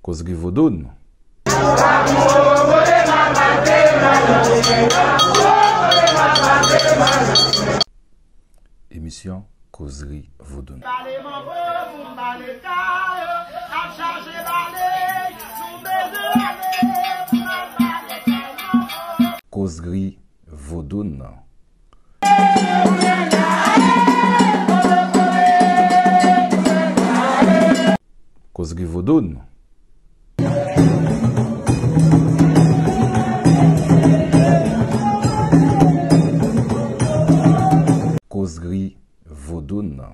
Kozri vodoun. Emisyon kozri vodoun. Kozri Vodoun nan. Kozri Vodoun. Kozri Vodoun nan.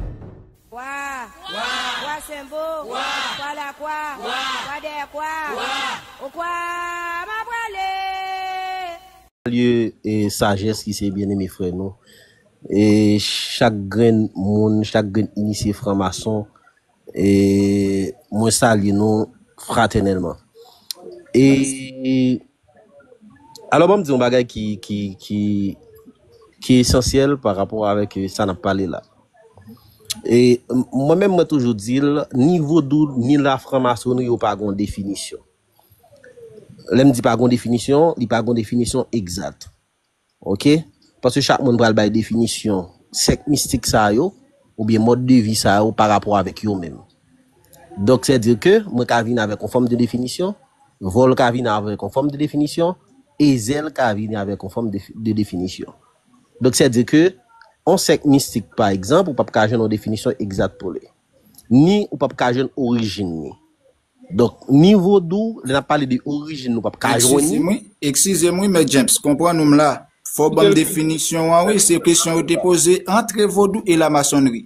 Kwa! Kwa! Kwa Senbo! Kwa! Kwa Lakwa! Kwa! Kwa dèyè kwa! Kwa! O kwa m a prale! Salye sajès ki se byeneme frè nou e chak grenn moun, chak grenn inisye fran mason e mwen salye nou fratènèlman e. Alò banm di yon bagay ki ki ki ki esansyèl pa rapò avèk sa nap pale la. E mwen menm mwen toujou dil ni vodou ni la franmasonri yo pa gon definisyon. Lèm di pa gon definisyon, li pa gon definisyon egzat. Ok paske chak moun pral bay definisyon sèk mistik sa yo oubyen mòd de vi sa yo pa rapò avèk yo menm donk sè di ke mwen ka vin avèk yon fòm de definisyon vòl ka vin avèk yon fòm de definisyon e zèl ka vin avèk yon fòm de definisyon donk sè di ke yon sèk mistik pa egzanp ou pap ka jwenn yon definisyon egzat pou li ni ou pap ka jwenn orijin ni. Donk ni vodou, lè n ap pale de orijin nou pap ka jwenn li. Eksizem wi, eksizem wi mèt James, konprann ou m la. Fò w banm definisyon an wi, se kesyon yo te poze antre vodou e lamasonnri.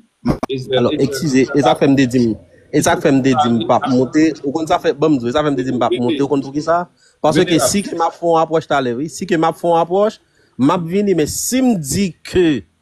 Alò eksize, e sa k fè m te di m, e sa k fè m te di m pap moute, ou konn sa fè, banm di w, e sa k fè m te di m pap moute ou konn poukisa? Paske si ke m ap fè yon apwòch talè wi, si ke m ap fè yon apwòch, m ap vini men si m di ke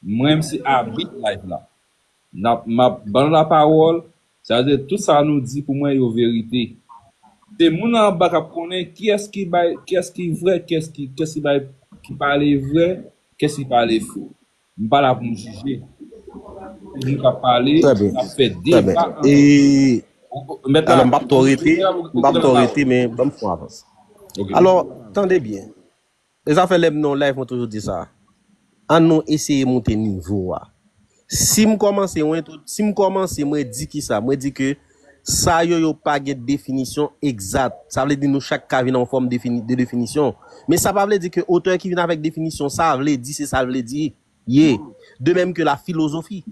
M renmsi abit live la. Nap map banl la pawol sa vle dire tout sa nou di pou mwen yo verite. Se moun anba kap konnen kiyes ki bay kiyes ki vre kiyes ki kiyes ki bay ki pale vre kiyes ki pale fo. M pa la poum jije. Se moun kap pale Trè byen. kap fè Trè byen. deba E antre yo. Met la alò m pap twò rete, m pap twò rete men banm fon avans. Ok. Alò tande byen. E zafè lèm nan yon live mwen toujou di sa. An nou eseye moute nivo a. Sim kòmanse yon entro, sim kòmanse mwen di kisa, mwen di ke sa yo yo pa gen definisyon egzat. Sa vle di nou chak ka vin an fòm de definisyon. Men sa pa vle di ke otè ki vin avèk definisyon sa vle di se sal vle di. ye, de mèm ke la filozofi.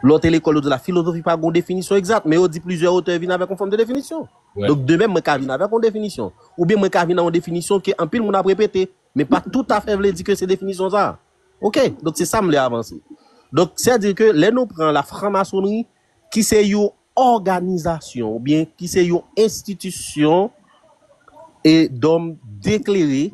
Lò te lekòl yo di la filozofi pa gen yon definisyon egzat, men yo di plizyè otè vin avèk yon fòm de definisyon. Donk de mèm mwen ka vin avèk yon definisyon, oubyen mwen ka vin nan yon definisyon ke anpil moun ap repete, men pa toutafè vle di ke se definisyon sa a. Ok, donk se sa m vle avanse. Donk sè di ke lè nou pran la franmasonri ki se yon òganizasyon oubyen ki se yon enstitisyon e dòm deklere,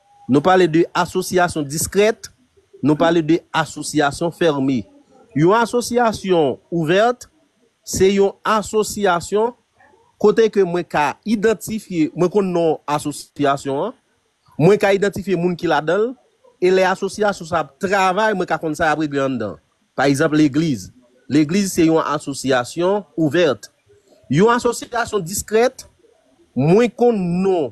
Nou pale de asosyasyon diskrèt, nou pale de asosyasyon fèrme. Yon asosyasyon ouvèt, se yon asosyasyon kote ke mwen ka idantifye, mwen konn non asosyasyon an, mwen ka idantifye moun ki ladan l, e lè asosyasyon sa ap travay, mwen ka konn sa y ap regle anndan. Pa egzanp, legliz. Legliz se yon asosyasyon ouvèt. Yon asosyasyon diskrèt, mwen konn non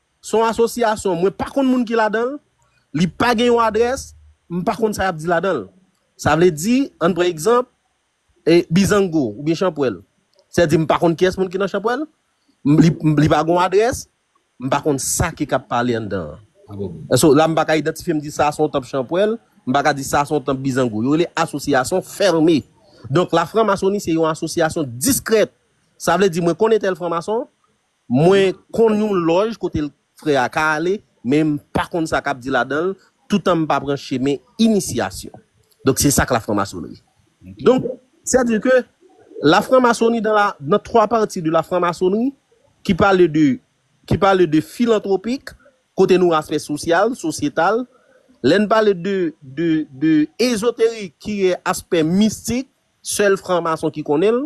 Se yon asosyasyon mwen pa konn moun ki ladan l, li pa gen yon adrès, m pa konn sa y ap di ladan l. Sa vle di, an n pran egzanp, Bizango oubyen Chanpwèl. Sè di m pa konn kiyès moun ki nan Chanpwèl, li pa gen yon adrès, m pa konn sa ki k ap pale anndan an. So, la m pa ka idantifye m di sa a se yon tanp Chanpwèl, m pa ka di sa a se yon tanp Bizango. Yo rele asosyasyon fème. Donk lafranmasoni se yon asosyasyon diskrèt. Sa vle di mwen konnen tèl franmason, Mwen konn yon lòj kote frè a ka ale men m pa konn sa kap di ladan l toutan m pa pran chemen inisyasyon. Donk se sa k lafranmasonnri. Donk sè di ke lafranmasonnri dan la dan twa pati de lafranmasonnri ki pale de ki pale de filantwopik kote nou aspè sosyal, sosyetal, lè n pale de de de ezoterik ki aspè mistik sèl franmason ki konnen l.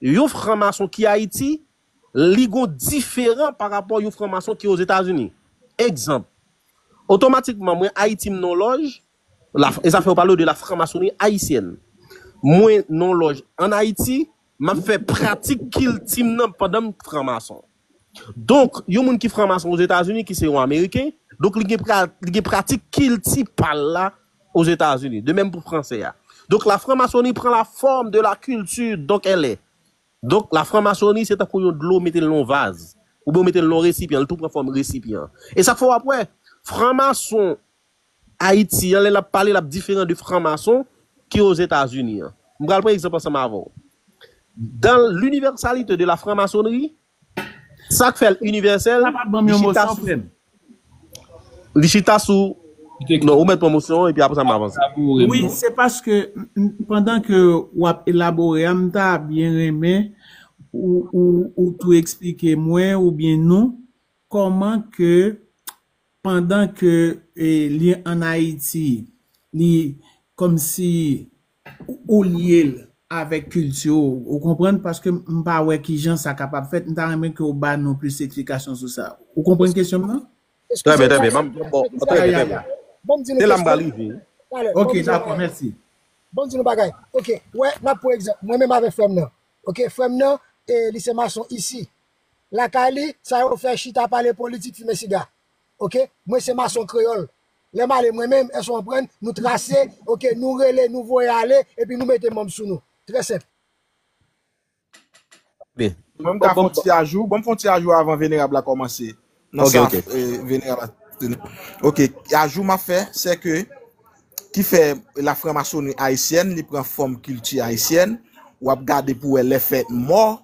Yon fran mason ki Ayiti, li gon diferan pa rapò yon fran mason ki Ozetazini. Egzanp, otomatikman mwen Ayiti m nan yon lòj, la e sa fè yo pale de la franmasonri ayisyèn. Mwen nan yon lòj an Ayiti, m ap fè pratik kilti m nan pandan m fran mason. Donk, yon moun ki franmason Ozetazini, ki se yon Ameriken, donk li gen pra, li gen pratik kilti pa l la Ozetazini. De mèm pou Franse a. Donk la franmasoni pran la fòm de la kilti donk èlè. Donk la franmasoni se tankou yon dlo mete l nan yon vaz. Oubyen ou mete l nan yon resipyan, li tou pran fòm resipyan. E sa k fè w ap wè, franmason Ayiti an, lè l ap pale, l ap diferan de franmason ki Ozetazini an. M pral pran egzanp ansanm avè w. Dans l'universalité de la franc-maçonnerie, sa k fè l inivèsèl, li chita sou, li chita sou, non, ou mèt pran mosyon an epi apre sa m avanse. Wi, se paske pandan ke w ap elabore a, m ta byen renmen ou tou eksplike mwen oubyen nou kòman ke Pandan ke li an Ayiti, li kòmsi ou lye l avèk kilti ou. Ou konprann? Paske m pa wè ki jan sa kapab fèt. M ta renmen ke ou ba nou plis eksplikasyon sou sa. Ou konprann kesyon m nan? Trè byen, trè byen. Ban m di nou kesyon. Ya, ya, ya. Se la m pral rive wi. Ok, dakò. Mèsi. Ban m di nou bagay. Ok. Wè, n ap pran egzanp. Mwen menm avèk frè m nan. Ok. Frè m nan, li se mason isi. lakay li sa yo fè chita pale politik fimen siga ok mwen se mason kreyòl lèm ale mwen menm èske w anprann nou trase ok nou rele nou voye ale epi nou mete manb sou nou trè senp. Mwen m ka fon ti ajou bon m fon ti ajou avan venerab la kòmanse nan sa venerab la ok ajou map fè sè ke ki fè la franmasoni ayisyèn li pran fòm kilti ayisyèn wap gade pou wè lè fèt mò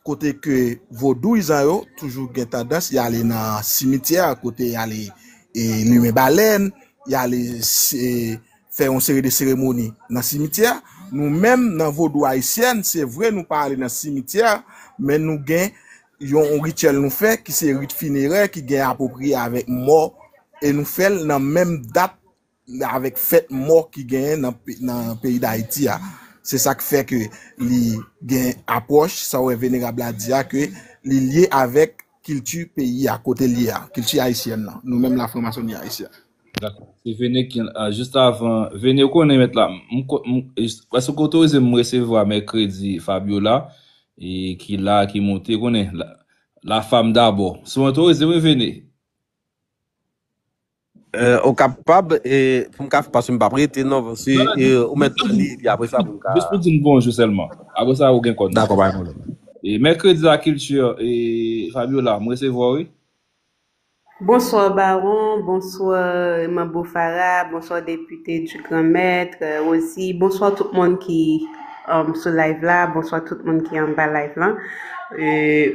Kote ke vodouyizan yo toujou gen tandans y ale nan simityè kote y ale limen balèn, y ale fè yon seri de seremoni nan simityè. Nou menm nan vodou ayisyèn, se vre nou pa ale nan simityè, men nou gen yon rityèl nou fè ki se rit finerè ki gen apwopriye avèk mò e nou fè l nan menm dat avèk fèt mò ki genyen nan peyi dayiti a se sak fè ke li gen apwòch sa wè venerab la di a ke li lye avèk kilti peyi a kote l ye a kilti ayisyèn nan nou menm la franmasoni ayisyèn. Dakò se Vene ki an jis avan Vene ou konnen mèt la m ko m èske w k otorize m m resevwa mèkredi Fabiola e ki la ki moute konnen la femme d'abord si w otorize wi Vene. Euh ok ap pab e pou m ka fè paske m pap rete non paske Non, non, e jis, ou mèt jis pou pran di, li epi apresa pou m ka jis pou di m bonjou sèlman. Apre sa ou gen kòn nan. Dakò pa gen pwoblèm. E Mercredi la culture e Fabiola, m resevwa w wi. Bonsoir Baron, bonsoir Manbo Farah, bonsoir Député du Grand Maître, Rosie, bonsoir tout moun ki m sou live la bonswa tout moun ki anba live lan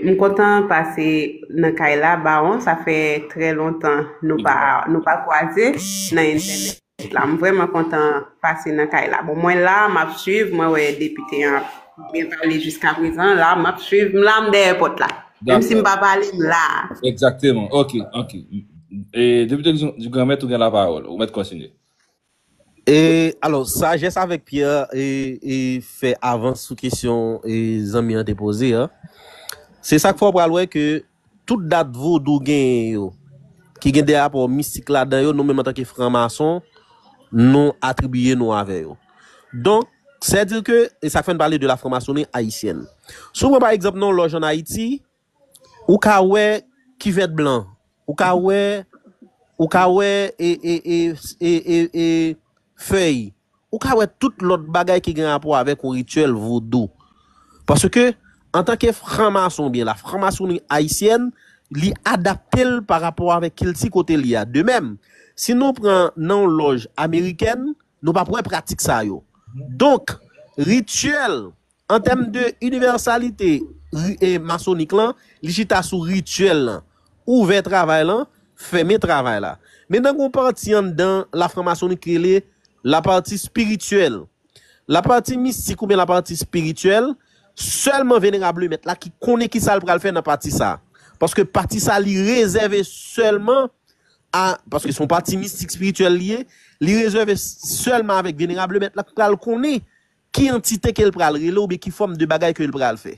m kontan pase nan kay la bawon sa fè trè lontan nou pa nou pa kwaze nan entènèt la m vrèman kontan pase nan kay la bon mwen la m ap swiv mwen wè depite an byen pale jiska prezan la m ap swiv m la m dèyè pot la menm si m pa pale m la Exactement ok ok depite Duganmèt ou gen la pawòl ou mèt kontinye. E alò sajès avèk Pyè e e fè avans sou kesyon e zanmi an te poze a. Se sak fè w pral wè ke tout dat vodou genyen yo ki gen de rapò mistik ladan yo nou menm antanke fran mason nou atribiye nou avè yo. Donk sè di ke e sak fè n pale de la franmasoni ayisyèn. Si w pran pa egzanp nan yon lòj an Ayiti Ou ka wè kivèt blan. Ou ka wè ou ka wè e e e e e e fèy. Ou ka wè tout lòt bagay ki gen rapò avèk yon rityèl vodou. Paske, antanke fran mason oubyen la fran masoni ayisyèn, li adapte l pa rapò avèk kilti kote li a. De mèm, si nou pran nan yon lòj amerikèn, nou p ap wè pratik sa yo. Donk, rityèl An tèm de inivèsalite ri masonik lan, li chita sou rityèl lan, ouvè travay lan, fèmen travay la. Men nan gen yon pati anndan lafranmasoni ki rele lapati spirityèl. Lapati mistik oubyen lapati spirityèl, sèlman Venerab Lemèt la ki konnen ki sa l pral fè nan pati sa a. Paske pati sa a li rezève sèlman a, paske se yon pati mistik spirityèl li ye, li rezève sèlman avèk Venerab Lemèt la ki pral konnen. Ki antite ke l pral rele oubyen ki fòm de bagay ke l pral fè.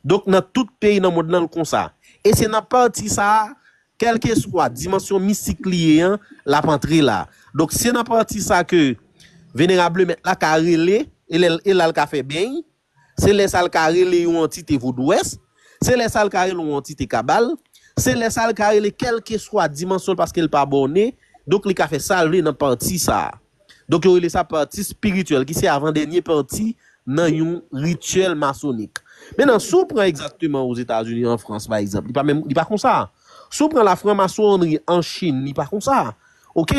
Donk nan tout peyi nan mond lan l konsa. E se nan pati sa a, kèlkeswa dimansyon mistik li ye an, l ap antre la. Donk se nan pati sa ke Venerab Lemèt la ka rele e lè e la l ka fè beny. Se lè sa l ka rele yon antite vodouwès. Se lè sa l ka rele yon antite kabal. Se lè sa l ka rele kèlkeswa dimansyon l paske l pa bòne. Donk li ka fè sa l vle nan pati sa a. Donk yo rele sa pati spirityèl ki se avan dènye pati nan yon rityèl masonik. Mennan si w pran egzakteman Ozetazini an Frans pa egzanp li pa menm li pa konsa. Si w pran la franmasonri an Chin li pa konsa. Ok.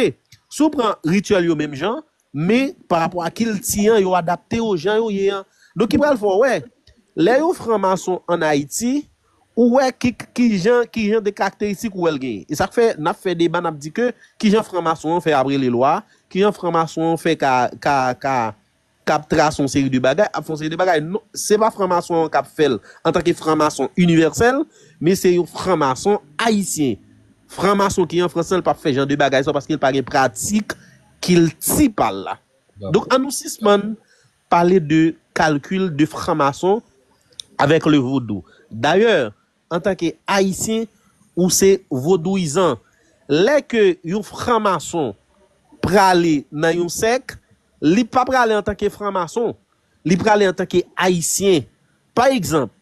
Si w pran rityèl yo menm jan men pa rapò a kilti an yo adapte yo jan yo ye an. Donk ki pral fè w wè lè yon franmason an Ayiti. Ou wè ki kijan kijan de karakteristik ou wè l genyen. E sa k fè n ap fè deba n ap di ke kijan fran mason an fè ap rele lwa, kijan fran mason an fè ka ka ka ka ap trase yon seri de bagay, ap fè yon seri de bagay. Non, se pa fran mason an k ap fè l antanke fran mason inivèsèl, men se yon fran mason ayisyen. Fran mason ki an Frans lan l p ap fè jan de bagay sa yo paske l pa gen pratik kilti pa l la. Donk an nou sispann Pale de kalkil de franmason avèk le vodou. Dayè, antanke Ayisyen, ou se vodouyizan. Lè ke yon franmason prale nan yon sèk, li pa prale antanke franmason. Li prale antanke Ayisyen. Pa egzanp,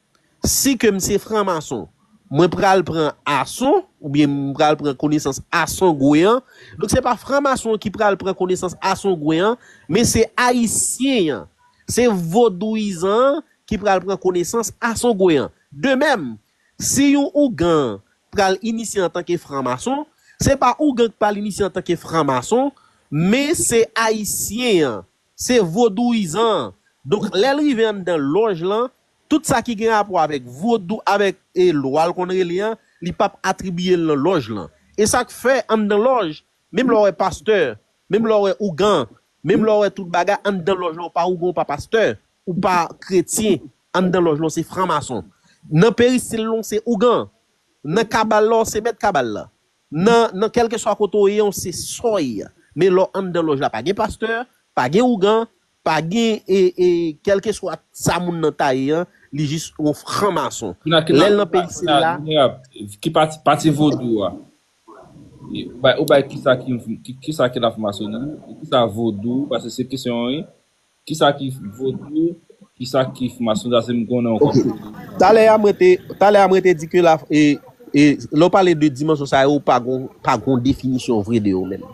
Si ke m se franmason, mwen pral pran ason, oubyen m pral pran konesans asongwen an, donk se pa franmason an ki pral pran konesans asongwen an, men se ayisyen an, se vodouyizan an ki pral pran konesans asongwen an. De mèm, si yon ougan pral inisye antanke franmason, se pa ougan ki pral inisye antanke franmason, men se ayisyen an. Se vodouyizan an. Donk lè l rive anndan lòj lan, tout sa ki gen rapò avèk vodou, avèk e lwa l konn rele an, li p ap atribiye l nan lòj lan. E sa k fè anndan lòj, menm lè w wè pastè, menm lè w wè ougan, menm lè w wè tout bagay, anndan lòj lan ou pa ougan ou pa pastè, ou pa kretyen, anndan lòj lan w se franmason. Nan perisil lan w se ougan. Nan kabal la w se mèt kabal la. Nan nan kèlkeswa kote w ye w se sòy men lè w anndan lòj la pa gen pastè, pa gen ougan, pa gen e e kèlkeswa sa moun nan ta ye an li jis yon fran mason. Kina kina Lè l nan peyi kina sila. minerab ki pati pati vodou a ou bay ou bay kisa ki yon kisa ki la fran masonri e kisa vodou paske se kesyon wi. Kisa ki vodou, kisa ki fmasyon sa se m konnen ou kap pale. Talè a mwen te, talè a mwen te di ke la e e lè w pale de dimansyon sa yo pa gon pa gon definisyon vre de yo menm.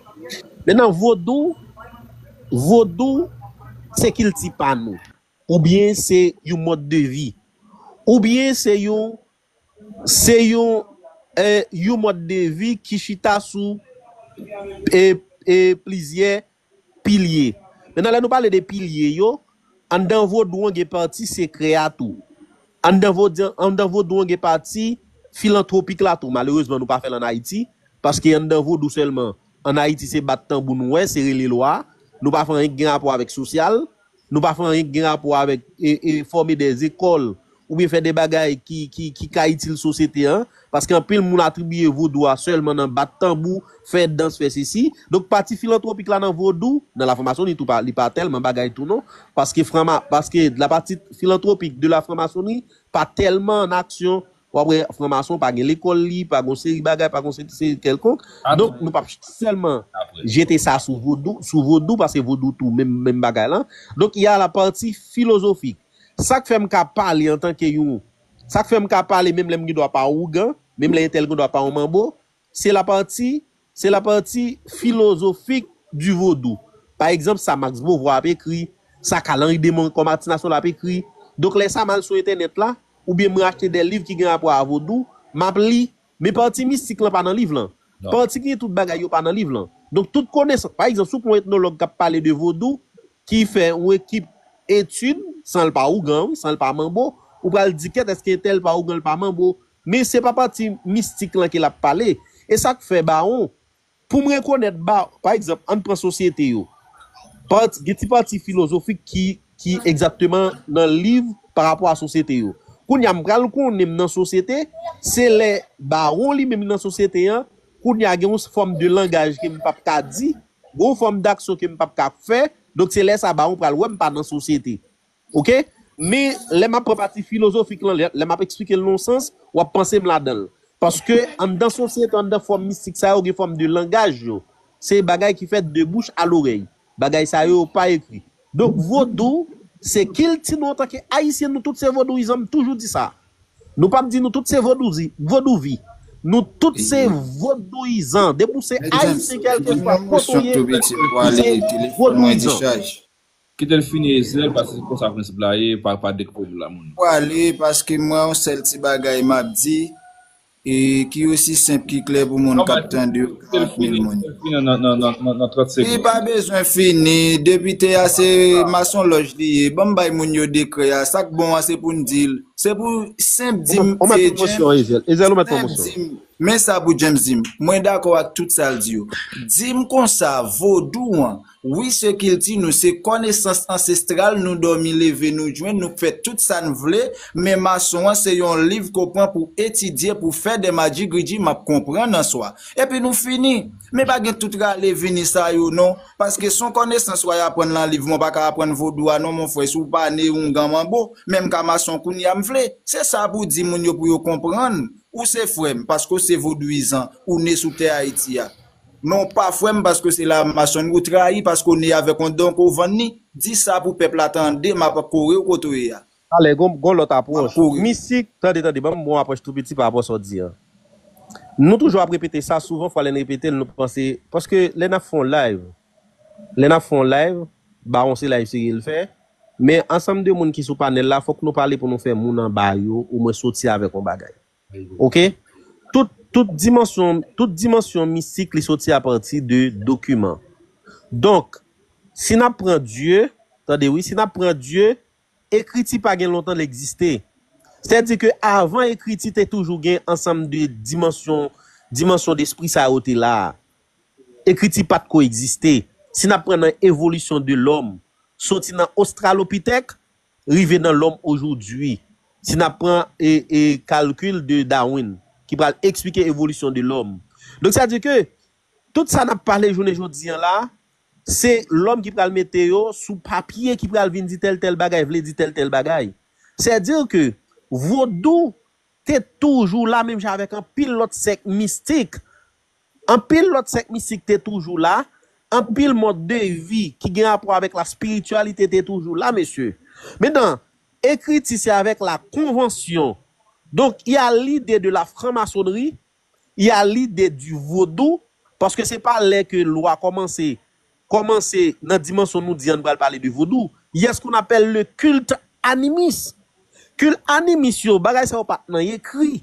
Mennan vodou, vodou se kilti pa nou oubyen se yon mòd de vi oubyen se yon se yon e yon mòd de vi ki chita sou e e plizyè Pilye. Menan lè nou pale de pilye yo, anndan vodou an gen pati sekrè a tou. Anndan vodyan, anndan vodou an gen pati filantwopik la tou. Malerezman nou pa fè l an Ayiti, paske anndan vodou sèlman, an Ayiti se bat tanbou nou wè, se rele lwa, nou pa fè anyen ki gen rapò avèk sosyal, Nou pa fè anyen ki gen rapò avèk fòme dè zekòl oubyen fè dè bagay ki ka itil sosyete an, paske anpil moun atribiye vodou a sèlman nan bat tanbou, fè dans, fè sesi. Donk pati filantwopik la nan vodou, nan lafranmasoni tou li pa tèlman bagay tou non, paske lapati filantwopik de lafranmasoni pa tèlman an aksyon Wap wè fran mason pa gen lekòl li pa gon seri bagay pa gon seri kèlkonk donk nou pap sèlman jete sa sou vodou sou vodou paske vodou tou menm menm bagay lan donk ya la pati filozofik sak fèm ka pale antanke yon sak fèm ka pale menm lèm gen dwa pa wougan menm lè entèl gen dwa pa yon manbo Se la pati, se la pati filozofik di vodou. Pa egzanp sa Max Beauvoir ap ekri, sa Carl Henri de Moncourt Martin Lassaulx ap ekri. Donk lè sa m al sou entènèt la, oubyen mwen achte de liv ki gen rapò a vodou, m ap li. Men pati mistik lan pa nan liv lan. Pati ki gen tout bagay yo pa nan liv lan. Donk tout konesans, pa egzanp si w pran yon etnològ k ap pale de vodou, ki fè yon ekip etid, san l pa ougan wi, san l pa manbo, ou pral di kèt èske entèl pa ougan l pa manbo, Men se pa pati mistik lan ke l ap pale. E sa k fè bawon, pou m rekonèt ba, pa egzanp, ann pran sosyete yo. Pati, gen ti pati filozofik ki, ki egzatteman nan liv pa rapò a sosyete yo. Kounye a m pral konnen m nan sosyete, se lè bawon li menm li nan sosyete an, kounye a gen yon fòm de langaj ke m p ap ka di, gen yon fòm daksyon ke m p ap ka fè, donk se lè sa a bawon pral wè m pa nan sosyete. Ok men lè map pran pati filozofik lan lè map esplike l nan yon sans wap panse m ladan l paske anndan sosyete anndan fòm mistik sa yo gen fòm de langaj yo se bagay ki fèt de bouch a lorèy bagay sa yo yo pa ekri donk vodou se kilti nou antanke ayisyen nou tout se vodouyizan m toujou di sa nou pap di nou tout se vodouzi vodouvi nou tout se vodouyizan depi w se ayisyen kèlkeswa kote w ye ou se vodouyizan. Kitel fini Ezrel paske se konsa prensip la ye pa pa dekoupe vil la moun. Pwale paske mwen yon sèl ti bagay map di e ki osi senp ki klè pou moun kap tande yo 40 mil moun yo. Li pa bezwen fini depite a se masonlòj li ye banm bay moun yo dekrè a sak bon an se poun dil se pou senp dim James men sa pou James dim mwen dakò ak tout sal di yo dim konsa vodou an Wi se kilti nou, se kònesans ansestral nou dòmi leve nou jwenn nou k fè tout sa n vle men mason an se yon liv ke w pran pou etidye pou fè de madjigridji m ap konprann an swa epi nou fini men pa gen tout rale vini sa yo non paske son kònesans way aprann lan liv mwen pa ka aprann vodou a non mon frè si w pa ne oungan manbo men m ka mason kounya m vle se sa pou w di moun yo pou yo konprann ou se frè m paske w se vodouyizan ou ne sou tè ayiti a Men w pa fwè m paske se la mason ou trayi paske w ne avèk yon don ke w vann ni. Di sa pou pèp la tande m ap kore w kote w ye a. Talè gon gon lòt apwòch. Misik, Tande tande banm bon apwòch tou piti pa rapò sa w di an. Nou toujou ap repete sa souvan fwa lè n repete l nou panse paske lè n ap fè yon live lè n ap fè yon live Baron se live serye l fè men ansanm de moun ki sou panèl la fòk nou pale pou nou fè moun anba yo omwen soti avèk yon bagay. Ok. Tout, tout dimansyon, tout dimansyon mistik li soti a pati de dokiman. Donk, si n ap pran Dye, tande wi, si n ap pran Dye, ekriti pa gen lontan l egziste. Sètadi ke avan ekriti te toujou gen ansanm de dimansyon, dimansyon despri sa yo te la a. Ekriti pa t ko egziste. Si n ap pran nan evolisyon de lòm, soti nan Ostralopitèk, rive nan lòm ojoudwi. Si nap pran kalkil de Darwin ki pral eksplike evolisyon de lòm. Donk sa di ke tout sa nap pale jounen jodi an la, se lòm ki pral mete yo sou papye ki pral vin di tèl tèl bagay vle di tèl tèl bagay. Sè di ke vodou te toujou la menm jan avèk anpil lòt sèk mistik Anpil lòt sèk mistik te toujou la, anpil mòd de vi ki gen rapò avèk laspirityalite te toujou la, mesye. Mentan, ekriti se avèk la konvansyon. Donk, y a lide de la franmasonri, y a lide di vodou, paske se pa lè ke lwa kòmanse, kòmanse nan dimansyon nou di an n pral pale de vodou. Y a s kon apèl le kilt animis. Kilt animis yo, bagay sa yo pa t nan ekri.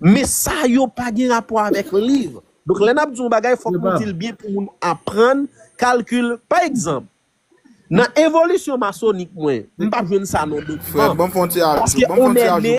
Men sa yo pa gen rapò avèk liv. Donk lè n ap di yon bagay fòk nou di l byen pou moun aprann kalkil. Pa egzanp, nan evolisyon masonik mwen, m pa jwenn sa nan dokiman. Paske on è ne.